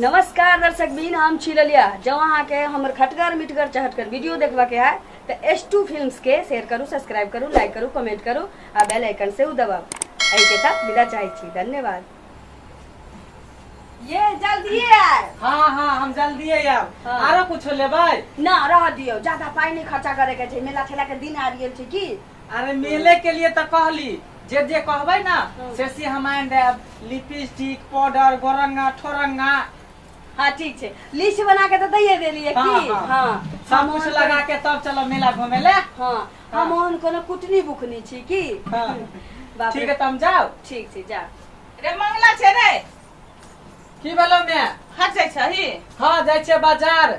नमस्कार दर्शक बीन हम छी ललिया जब अहाँके हमर खटगर मिठगर चहटगर वीडियो देखबा के है तो एस टू फिल्म के शेयर करू सब्सक्राइब करू लाइक करू कमेंट करू आ बेल आइकन से उ दबाउ एहि के साथ विदा चाहै छी धन्यवाद ये जल्दी आए हाँ हाँ हम जल्दी आयब हाँ। आरो कुछो लेबै ना रह दियो ज्यादा पाई नहीं खर्चा करे के छै मेला ठेला के दिन आबि गेल छै की अरे मेले के लिए तो कहली जे जे कहबे ना से से हम आन देब लिपस्टिक पाउडर गोरंगा ठोरंगा हाँ ठीक छै लिस्ट बना के तो दैये देली है हाँ, की हाँ। हाँ सब हम कुछ ओहन लगा के तब चलो मेला घूमे ले कोनो- हाँ हाँ। हम ओहन कोनो कुटनी बुकनी छी की हाँ। बाप ठीक रे है तुम जाओ ठीक छै जा रे मंगला छै रे की भेलो मैं हट जाइ छही हाँ जाइ छियै बाजार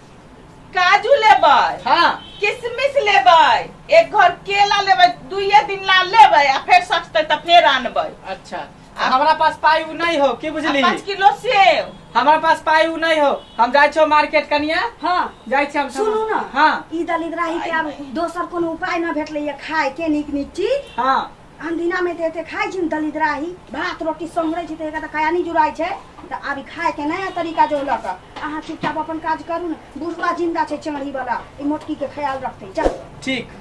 काजू लेबै हाँ किशमिश लेबै एक घर केला लेबै दुइये दिन ला लेबै आ फेर सस्ते तऽ फेर आनबै अच्छा आ- हमारा पास पाई उ नहीं हो की आ बुझली पाँच किलो सेव हमारा पास पाई उ नहीं हो हम जाय छो मार्केट कनिया हाँ जाय छी हम सुनू ना हाँ ई दलित राही के आब दोसर कोनो उपाय ना भेटलैया खाय के नीक नीक चीज हाँ अनदिनामे तऽ एते खाइ छी दलिद्राही भात रोटी सोहरै छी तऽ एकरा तऽ काया नहि जुड़ाइ छै तऽ आब ई खायके नया तरीका जो लऽ कऽ अहाँ चुपचाप अपन काज करू ने बुढ़वा जिन्दा छै चढ़ीवला ई मोटकीके ख्याल रखतै जा ठीक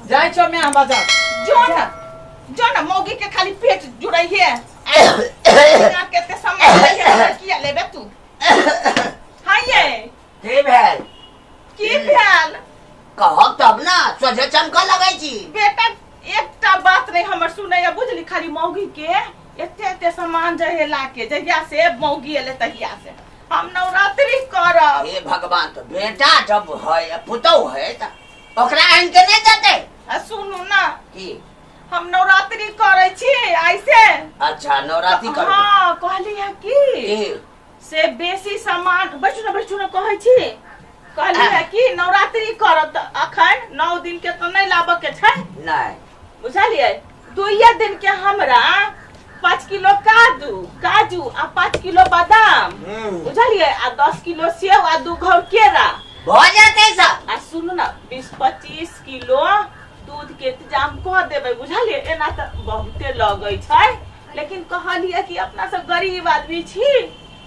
जाइ छौ मैं हम बाजार जो न जो न मौगी के खाली पेट जुड़ै है केते समय किया लेबे तू हाँ ये के भेल की भेल कहब तब ना सोझे चमकऽ लगै छी बेटा एकटा बात नहीं हमर सुनैया बुझली खाली मौगी के एते एते सामान जहे लाके जहिया से मौगी एले तहिया से हम नवरात्रि करब हे भगवान तो बेटा जब है पुतौ है त ओकरा आनि के नहि देतै आ सुनू ना की हम नवरात्रि करै छी ऐसे अच्छा नवरात्रि करबै हाँ कहली है की की से बेसी सामान बैठू ने बैठू ने कहै छी कहली है कि नवरात्रि करब तऽ अखन नौ दिन के तो नहीं लाबऽ के छै नहीं बुझलियै दुइये दिन के हमरा पाँच किलो काजू काजू आ पाँच किलो बादाम बुझलियै आ दस किलो सेव आ दू घौर केरा भ जेतै सब आ सुनू ना बीस पच्चीस किलो दूध के इंतजाम कऽ देबै बुझलियै एना तऽ बहुते लगै छै लेकिन कहलियै कि अपना सब गरीब आदमी छी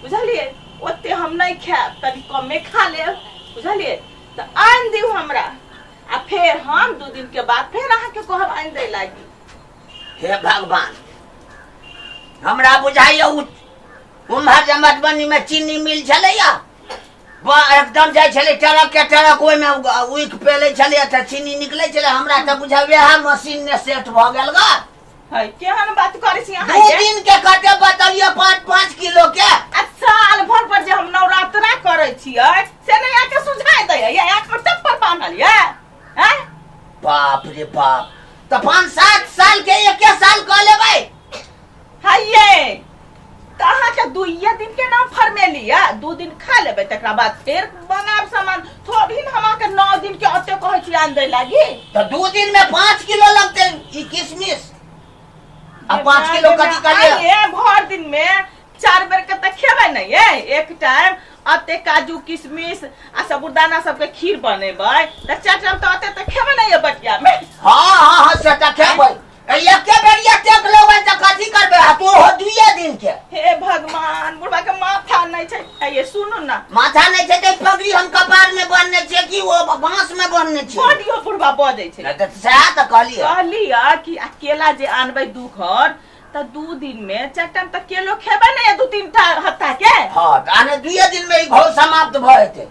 बुझलियै ओते हम नहीं खायब तनि कमे खा ले बुझलियै तो आन दियो हमरा आ फिर हम दू दिन के बाद फिर अहा के कहब आन दे लागी हे भगवान हमरा बुझाइया उ उम्हर जे मधुबनी में चीनी मिल छलैया बा एकदम जाइ छलै ट्रक के ट्रक ओहिमे उइक पेलै छलैया तऽ चीनी निकलै छलै हमरा तऽ बुझाइया वएह मशीन ने सेट भऽ गेल गा है केहन बात करै छी अहाँ दू ये? दिन के कटे बतलियो पाँच पाँच किलो के आ साल भर पर जे हम नवरात्रा करै छियै से नहि अहाँके सुझाय दै ये अहाँके सब पर बान्हल ये हैं बाप रे बाप तो पाँच सात साल के एके साल कह लेबै है ये तऽ अहाँके दुइये दिन के नाम फरमेली या दू दिन खा लेबै तकरा बाद फेर बनायब सामान थोड़ी ने हम अहाँके नौ दिन के ओते कहै छी आन दै लागी तो दू दिन में पाँच किलो लगते ई किशमिश आ पाँच किलो कथी कर लिया आइए, भर दिन में चार बेर के तऽ खेबै ने ये एक टाइम अते काजू किशमिश आ साबुदाना सबके खीर बनेबै तऽ चार टाइम तऽ अते तऽ खेबै ने ये बटिया में हाँ हाँ हाँ सेटा खेबै ए, एके बेरिया टेक लेबै तऽ कथी करबै आ तू हो दुइये दिन के हे भगवान बुढ़वा के माथा नहीं छै आ ये सुनू ना माथा नहि छै तऽ ई पगड़ी हम कपार में बांधने छियै कि ओ बांस में बांधने छियै बॉडियो बुढ़वा बजै छै नहि तऽ सएह तऽ कहलियै कहलिया कि आ केला जे आनबै दू घर तऽ दू दिन में चारि टाइम तऽ केलो खेबै ने दू तीन टा हत्ता के हँ तऽ आने दुइये दिन में ई घोर समाप्त भऽ जेतै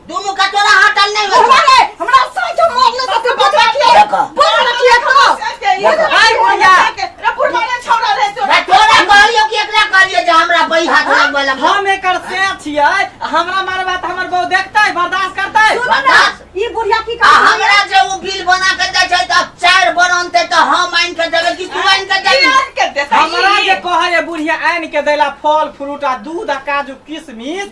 दोनों का तोरा हटल नहीं हो हमारे हमरा साथ जो मार ले तो बता के देखो। बोल ना किया तो आई बुढ़िया रे फुरमाने छोड़ा रे तो मैं तोरा कहलियो कि एकरा कहलियो जे हमरा बई हाथ लग वाला हम एकर से छियै आ हमरा मारबा त हमर बहू देखतै बर्दाश्त करतै बर्दाश्त। ई बुढ़िया की आ कर हमरा जे वो बिल बना के दे छै त चार बरन ते त हम आइन के देबे कि तू आइन के देबे यार के देता हमरा जे कहै बुढ़िया आनि के दैला फल फ्रूट आ दूध आ काजू किशमिश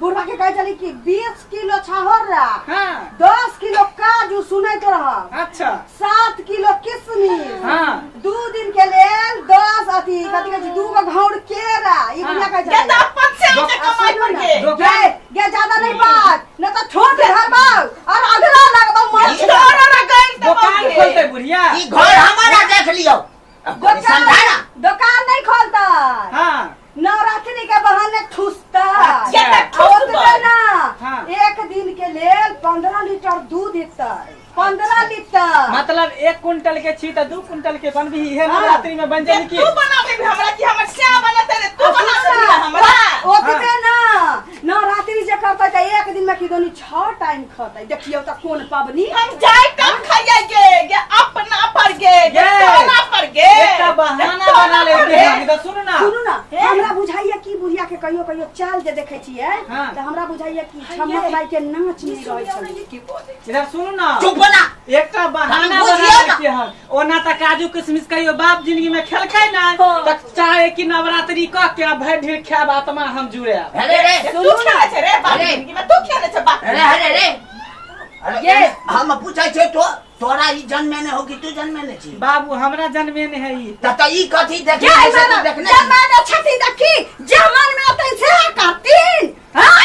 बुढ़वा के कहे चली कि बीस किलो छाहर रहा हाँ दस किलो काजू सुने तो रहा अच्छा सात किलो किशमिश हाँ दू दिन के लेल दस अथी कथी कहै छै दू गो घौर केरा ई हाँ। बुझा कहै ये छै तो अपन से हमसे आ, कमाई सुनू ना। करके दोकान- गे गे ज्यादा नहीं बात न तो छोड़ दे हर बार और अगला लगबा मर छोरा ना गइल तो दोकान बाप रे। खोलते बुढ़िया ई घर हमारा देख लियो अब कोई समझा ना दोकान दोकान नहीं खोलता हाँ नवरात्रि के बहाने ठुसता अच्छा, आ ठुसबा। ओतबे ना हाँ। एक दिन के लेल पंद्रह लीटर दूध देतै पंद्रह लीटर मतलब एक कुंटल के छी तो दू कुंटल के बनबी इहे नवरात्रि में बन जाई कि तू बना देबी हमरा कि हमर श्याम बना दे तू बना देबी हमरा ओतबे ना नवरात्रि जे करतै तऽ एक दिन में किदोनी छओ टाइम खतै देखियौ तऽ कोन पबनी हम जाय कब खाइए गे गे अपना पर गे गे गे। तोरा पर गे एकटा बहाना तोरा बना ले पर के गे। हम इधर सुन ना सुनू ना हे। हमरा बुझाइया की बुढ़िया के कहियो कहियो चाल जे देखै छियै हाँ। तऽ हमरा बुझाइया कि छमक माई के नाच नहि रहै छलै इधर सुन ना चुप बोला एकटा बहाना हम बना बुझियौ ले ना। के हम ओना तऽ काजू किशमिश कहियो बाप जिंदगी में खेलकै ना तऽ चाहे कि नवरात्रि क के आ भरि ढीर खायब आत्मा हम जुड़े अरे रे तू सुनू ना खेले छे रे बाप अरे। जिंदगी में तू खेले छे बाप अरे अरे रे अरे ये। हम पूछै छै तो तोरा ई जन्मे ने हो कि तू जन्मे ने छी बाबू हमरा जन्मे ने है ई त त ई कथी देखने क्या है छी से तू मारा? देखने जब छी मैंने छठी देखी जमन में तो इसे करती हाँ?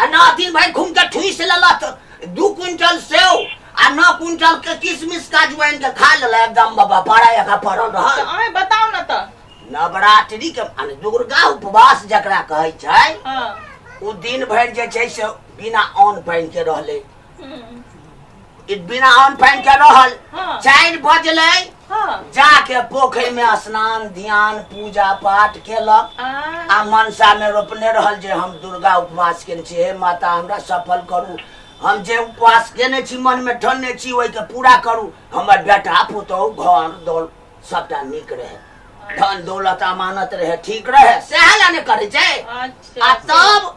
आ ना दिन भरि घूम के ठूस लेलक दू क्विंटल सेव आ नौ क्विंटल के किशमिश काजू आनि के खा लेलक एकदम बाबा बड़ा जगह पड़ल तऽ रहल अहें बताउ ने तऽ नवरात्रि के माने दुर्गा उपवास जकरा कहै छै हँ ओ दिन भरि जे छै से बिना अन्न पानि के रहले हम्म, ई बिना अन्न पानि के रहल हाँ। चारि बजले हाँ। जाके पोखरि में स्नान ध्यान पूजा पाठ केलक आ, आ मनसा में रोपने रहल जे हम दुर्गा उपवास केने छी हे माता हमरा सफल करू हम जे उपवास केने छी मन में ठनने छी ओहिके पूरा करू हमर बेटा पुतहु घर दौल सबटा नीक रहे धन दौलत अमानत रहे ठीक रहे सएह लए ने करै छै आ अच्छा तब